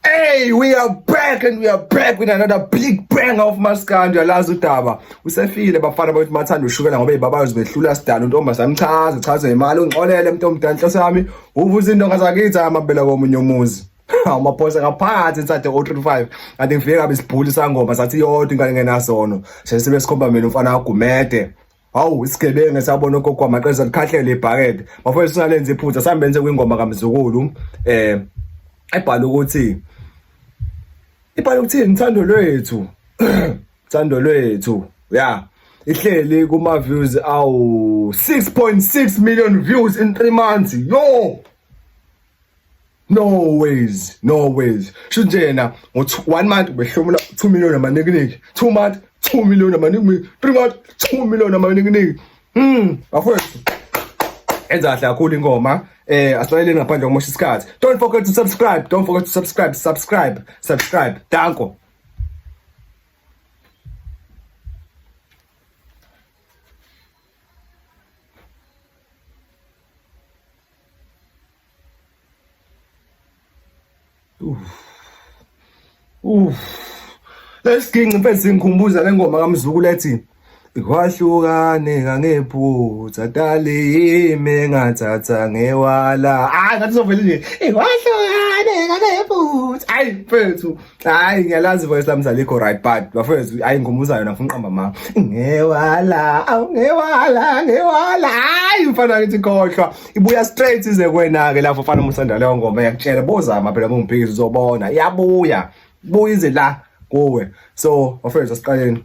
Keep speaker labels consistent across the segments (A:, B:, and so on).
A: Hey, we are back and we are back with another big bang of maskandi alazi udaba usefile bafana bakuthi mathanda ushukela ngoba ibabazi behlula sidala untomba samchaza chaza imali ungixolele umuntu omdala inhloso yami uvuza indonga zakithi amabele komunye umuzi amaphosa ngaphakathi inside o 35 kanti ngifike kabi sibhuli sangoma sathi yodwa ingane ngenasono sesibe sikhomba mina umfana wagumede Hawu isigebengu esabona ugogo wamaqesa likhahlele ibhakede. Bafowethu singalenza iphutha sambenze kwingoma kamzukulu eh ebhala ukuthi ibhala ukuthini thando lwethu. Thando lwethu. Yeah. Ihleli kuma views awu 6.6 million views in 3 months. Yo! no ways no ways sho nje yena ngo-one month ubehlomula two million amanikiniki two month two million amanikiniki three month two million amanikiniki um bafowethu enza kahle kakhulu ingoma eh asilalele ngaphandle komosha isikhathi don't forget to subscribe don't forget to subscribe subscribe subscribe danko lesiginci mfethu singikhumbuza le ngoma kamzukulu ethi kwahlukane ngangephutha tali yimi ngathatha ngewala hayi ngathi uzovele nje kwahlukane ngangephutha hayi mfethu hayi ngiyalazi voice lami zalikho right but bafowethu hayi ngikhumbuzana yona ngifuna uqamba ma ngewala awungewala ngewala hayi mfana ngithi khohlwa ibuya straight ize kwena-ke lapho mfana musanda leyo ngoma yakutshela bozama phela kungiphikisa uzobona iyabuya buya ize la kuwe so bafowethu asiqaleni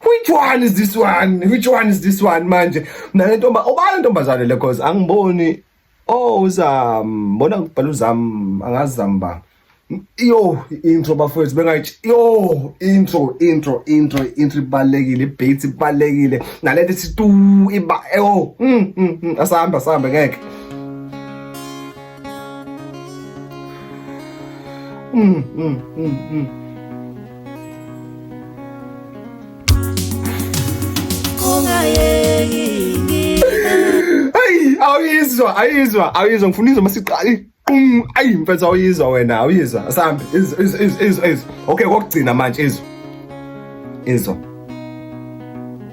A: which one is this one which one is this one manje nale ntomba obani ntombazane le cause angiboni oh uzam mbona kubhala uzam angazi zamba yo intro bafowethu bengayithi yo intro intro intro intro ibalekile beat ibalekile nalento ithi tu iba yo mm, mm, mm, asihamba asihamba ngeke mm mm mm mm awuyizwa ayizwa awuyizwa ngifuna izwa masiqali qum ayi mfethu awuyizwa wena awuyizwa asambe izwa izwa izwa izwa okay kokugcina manje izwa izwa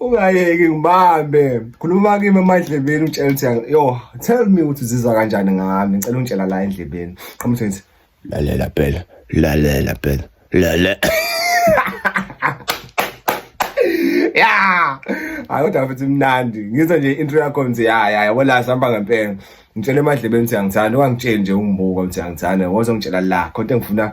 A: ungayeki ngibambe khuluma kimi emadlebeni utshela ukuthi yo tell me ukuthi uzizwa kanjani ngami ngicela ungitshela la endlebeni qhamuthi ngithi lalela phela lalela phela lale ya hayi kodwa futhi mnandi ngizwa nje intro yakho nje ya ya yabo la sihamba ngempela ngitshela emadlebeni ukuthi angithanda ungangitsheli nje ungibuka ukuthi angithanda wozongitshela la kodwa ngifuna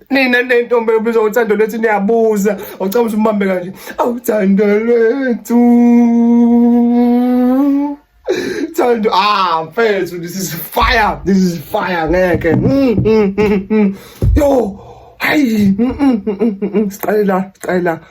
A: nina nentombi ebizwa ngothando lwethu niyabuza awucaba ukuthi umbambe kanje awuthando lwethu thando ah mfethu this is fire this is fire ngeke mm, mm, mm, yo hayi siqale la siqale la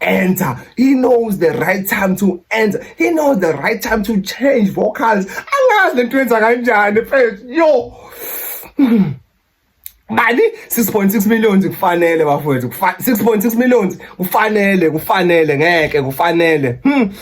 A: enter. He knows the right time to enter. He knows the right time to change vocals. Angazi lento yenza kanjani mfethu. Yo. Mali 6.6 millions kufanele bafowethu. 6.6 millions kufanele, kufanele ngeke kufanele. Hmm.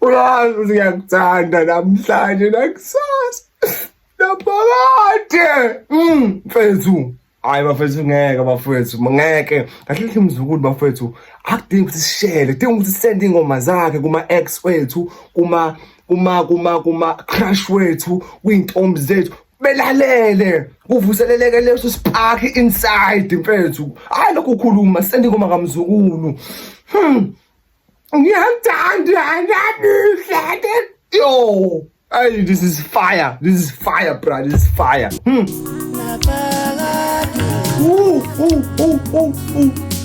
A: Uyazi ukuthi ngiyakuthanda namhlanje nakusasa naphakade mm, mfethu hayi bafethu ngeke bafethu ngeke kahle kahle mzukulu bafethu akudingi ukuthi sishele kudinga ukuthi sisende iy'ngoma zakhe kuma-ex wethu kuma kuma kuma kuma-crush wethu kwiy'ntombi zethu belalele kuvuseleleke leso spark inside mfethu hayi lokhu khuluma sendingoma kamzukulu hmm ngiyathanda ngiyabuhle yo Hey, this is fire. This is fire, bro. This is fire. Hmm. Ooh, ooh, ooh, ooh, ooh.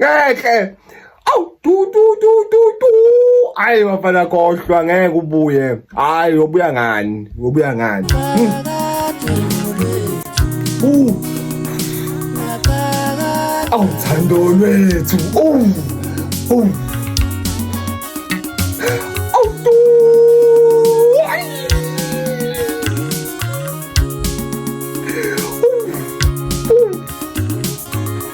A: ngeke awu tu tu tu tu tu hayi bafana kohlwa ngeke ubuye hayi ubuya ngani ubuya ngani hmm. awu thando lwethu awu awu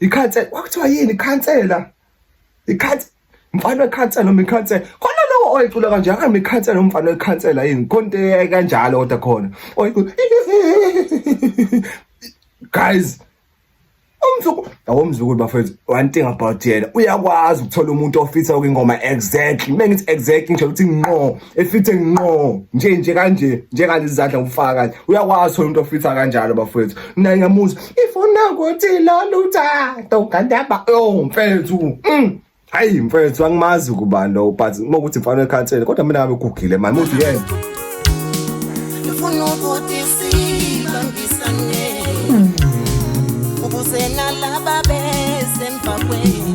A: ikhansela kwakuthiwa yini ikhansela ikhansela mfana wekhansela noma ikhansela khona lowo oyicula kanje akambe ikhansela umfana wekhansela yini konte kanjalo kodwa khona oyicula guys umzukulu awomzukulu bafethu one thing about yena uyakwazi ukuthola umuntu ofisa okuyingoma exactly mengith exactly nje ukuthi nqo efithe nqo nje nje kanje njengalezidla ngokufaka kanje uyakwazi thola umuntu ofitha kanjalo bafowethu mina ngiyamuzwa ifuna ukuthi loluthando ngandaba oh mfethu mm. hayi mfethu angimazi kubani lo but uma ukuthi mfana ekhathele kodwa mina ngabe gugile manje uthi yena ngifuna ukuthi sibangisane
B: ukuze nalaba besemva kwenu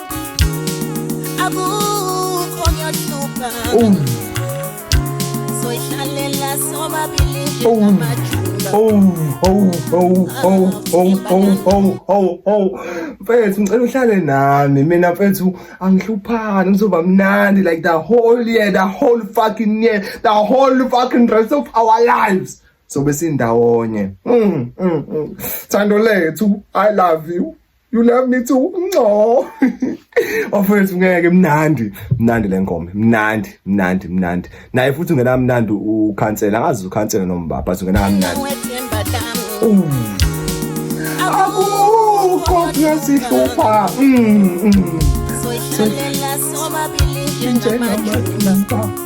A: mfethu ngicela uhlale nami mina mfethu angihluphani ngizoba mnandi like the whole year the whole fucking year the whole fucking rest of our lives sobe sindawonye mm, mm, mm. thando lethu i love you You love me too. No. Ofethu ngeke mnandi. Mnandi lengoma. Mnandi, mnandi, mnandi. Naye futhi ungena mnandi ukhansela. Angazi ukhansela noma baba, ungena mnandi. Akukho kuyasihlupha. Mm. mm.
B: Soyidlalela sobabili njengamaqhinga.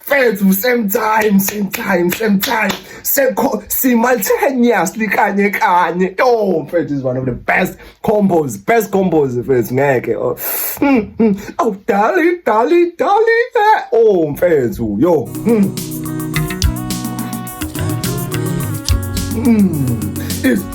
A: fethu same time same time same time sekho simultaneously kanye kanye yo mfethu is one of the best combos best combos mfethu ngeke oh hmm, hmm. oh darling darling darling eh. oh mfethu yo hmm. Mm. It's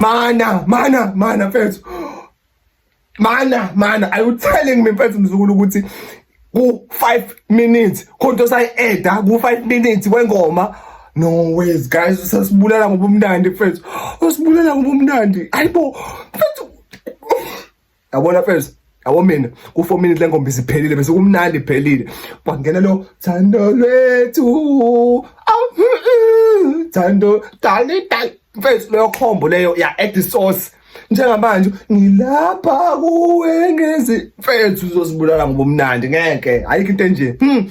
A: Mana, mana, mana mfethu. Mana, mana, are you telling me mfethu mzukulu ukuthi ku 5 minutes khonto sayi eda ku 5 minutes wengoma no ways guys usasibulala ngobumnandi mfethu usibulala ngobumnandi ayibo mfethu yabona mfethu yabo mina ku-four minute le ngomba isiphelile bese kumnandi iphelile kwangena lo thando lwethu thando dali dali mfethu leyo khombo leyo ya-add sauce njengamanje ngilapha kuwe ngezi mfethu uzosibulala ngobumnandi ngeke ayikho into enje hmm.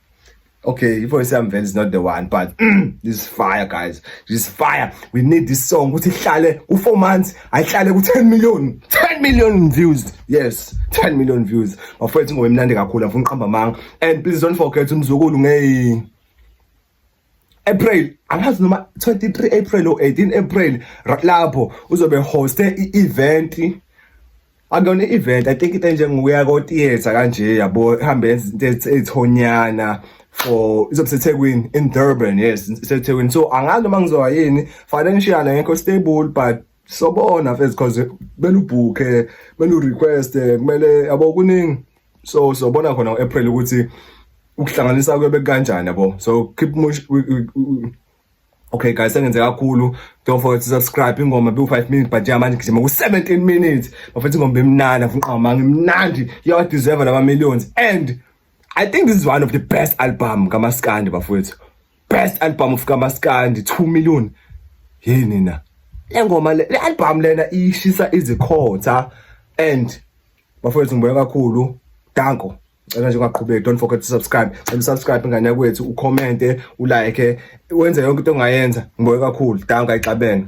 A: Okay, ivoice yami vele is not the one but mm, this fire guys. This fire. We need this song ukuthi ihlale u 4 months, ayihlale ku 10 million. 10 million views. Yes, 10 million views. Bafowethu ngomnandi kakhulu afuna uqamba manga. And please don't forget umzukulu ngeyi April angazi noma 23 April or 18 April lapho uzobe hoste i-event akuyona i-event i think into enjengokuya ko-theatre kanje yabo ihambe yenza into ezithonyana for izobe sethekwini in durban yes sethekwini so angazi noma ngizowa yini financial ngekho stable but sobona fethu because belubhukhe belu request kumele yabo kuningi so sobona khona uApril ukuthi ukuhlanganisa kube kanjani yabo so keep much Okay guys sengenze kakhulu don't forget to subscribe ingoma be 5 minutes but yeah manje ngijima ku 17 minutes bafethu ingoma emnandi afuna uqhama ngimnandi yawa deserve lama millions and I think this is one of the best album kamaskandi bafethu best album of kamaskandi 2 million hey nina le ngoma le album lena ishisa izikhotha and bafowethu ngibona kakhulu danko cela nje ungaqhubeki don't forget to subscribe cela subscribe ngane yakwethu ucommente ulike wenze yonke into ongayenza ngibona kakhulu danko ayixabene